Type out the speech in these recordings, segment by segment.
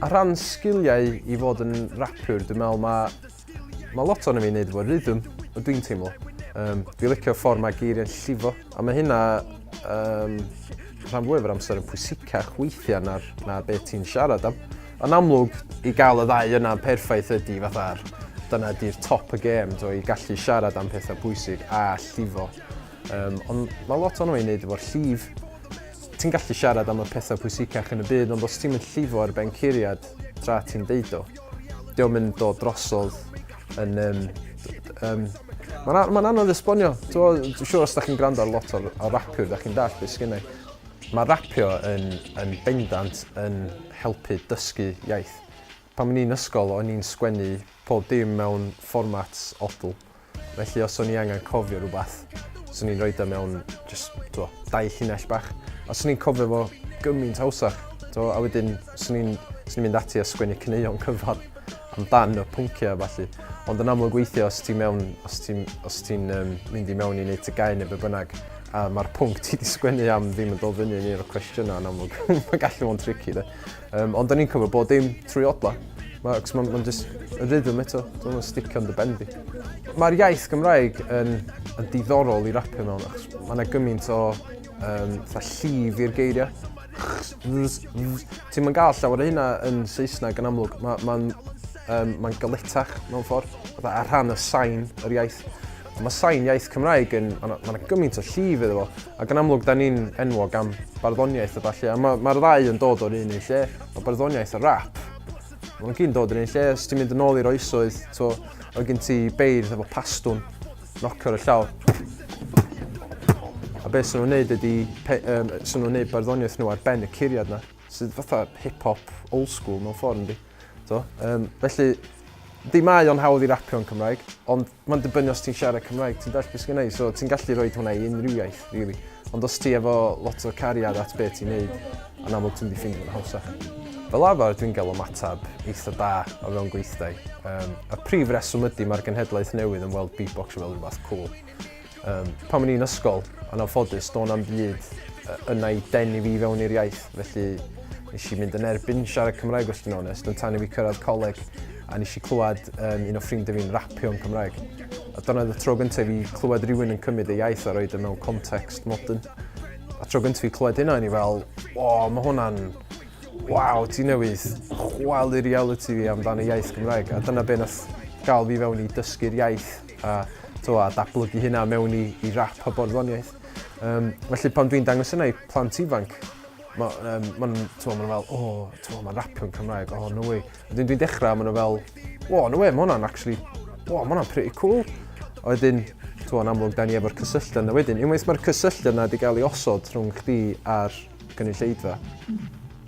A rhan sgiliau i fod yn rapiwr, dwi'n meddwl mae ma lot o'n i fi'n neud efo rhythm, o dwi'n teimlo. Um, fi licio ffordd mae geiriau'n llifo, a mae hynna um, rhan fwyaf o'r amser yn pwysicach weithiau na'r, na beth ti'n siarad am. Yn amlwg, i gael y ddau yna'n perffaith ydi fatha'r dyna ydi'r top y gêm, do, i gallu siarad am pethau pwysig a llifo. Um, ond mae lot o'n ei wneud efo'r llif. Ti'n gallu siarad am y pethau pwysicach yn y byd, ond os ti'n mynd llifo ar ben curiad tra ti'n deud o, di o'n mynd o drosodd yn... Um, um, Mae'n ma anodd esbonio. Dwi'n siŵr os da chi'n gwrando ar lot o'r, or rapwyr, da chi'n dall beth sgynnau. Mae rapio yn yn bendant yn helpu dysgu iaith. Pan o'n i'n ysgol o'n i'n sgwennu pob dim mewn fformat odl, felly os o'n i angen cofio rhywbeth, swn i'n rhoid o mewn jyst, t'mo', dau llinell bach, a swn i'n cofio fo gymaint hawsach, t'mo', a wedyn swn i'n swn i'n mynd ati a sgwennu caneuon cyfan amdan y pynciau a ballu. Ond yn amlwg weithiau os ti mewn, os ti'n os ti'n yym mynd i mewn i neud tygau neu be' bynnag, A mae'r pwnc ti wedi sgwennu am ddim yn dod fyny yn un o'r cwestiynau yn amlwg. Mae'n gallu fo'n tricky, de. Um, ond da ni'n cymryd bod dim trwy odla. Mae'n ma, ma just y rhythm eto, dwi'n yn sticio yn dy ben di. Mae'r iaith Gymraeg yn, yn diddorol i rapio mewn, achos mae yna gymaint o um, llif i'r geiriau. Ti'n ma'n gael llawer o hynna yn Saesneg yn amlwg. Mae'n ma, ma, um, ma galetach mewn ffordd, a rhan y sain yr iaith. Mae sain iaith Cymraeg yn, mae yna gymaint o llif iddo fo, ac yn amlwg da ni'n enwog am barddoniaeth a falle, a mae'r ma ddau yn dod o'r un un lle, mae barddoniaeth a rap. Mae nhw'n gyn dod o'r un lle, os ti'n mynd yn ôl i'r oesoedd, to, oedd gen ti beirdd efo pastwn, nocio ar y llaw. A beth sy'n nhw'n neud ydy, um, sy'n nhw'n neud barddoniaeth nhw ar ben y curiad na. Sydd fatha hip hop old school mewn ffordd yndi? T'o'? Yym felly di mae o'n hawdd i rapio yn Cymraeg, ond ma'n dibynnu os ti'n siarad Cymraeg, ti'n dallt beth sgynna i? So ti'n gallu rhoi hwnna i unrhyw iaith rili. Ond os ti efo lot o cariad at be' ti'n neud, yn amlwg ti'n mynd i ffeindio fo'n hawsach. Fel arfer dwi'n gael ymateb eitha da o fewn gweithdai. Yym y prif reswm ydy mae'r genhedlaeth newydd yn weld beatbox fel rhywbeth cŵl. Um, pan o'n i'n ysgol, yn anffodus, do'n am byd yna i denu fi fewn i'r iaith, felly nes i mynd yn erbyn siarad Cymraeg os dwi'n onest, ond tan i fi cyrraedd coleg a nes i clywed um, un o ffrindiau fi'n rapio yn Cymraeg. A dyna oedd y tro gyntaf i clywed rhywun yn cymryd ei iaith a roed y e mewn context modern. A tro gyntaf i clywed hynna, ni fel, o, mae hwnna'n... Waw, ti newydd chwalu reality fi amdano iaith Gymraeg. A dyna beth nath gael fi fewn i dysgu'r iaith a t'wo' a datblygu hynna mewn i i rap a barddoniaeth. Yym felly pan dwi'n dangos hynna i plant ifanc ma' yym ma' nw'n t'mo' ma' n'w fel o t'mo' ma'n rapio'n Cymraeg o no way. Wedyn dwi'n dechra a ma' n'w fel o no way ma' wnna'n actually o ma' wnna'n pretty cool. A wedyn t'mo' yn amlwg 'dan ni efo'r cysylltu yna wedyn unwaith ma'r cysylltu yna 'di ga'l 'i osod rhwng chdi a'r gynulleidfa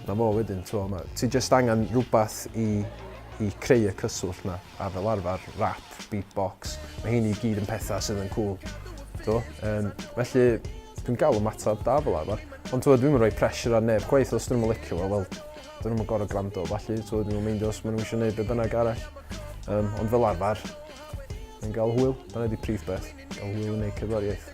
'na fo wedyn t'mo' ma' ti jyst angan rwbath i i creu y cyswllt 'na. a fel arfer rap, beatbox, mae hyn i gyd yn pethau sydd yn cŵl. Do? Um, felly, dwi'n gael y matab da fel arfer. Ond dwi'n mynd rhoi pressure ar neb chwaith os dyn nhw'n licio fo, wel, dyn nhw'n gorau gwrando, falle, dwi'n mynd meindio os maen nhw eisiau gwneud be bynnag arall. Um, ond fel arfer, yn gael hwyl, dyna di prif beth, gael hwyl yn ei cyfariaeth.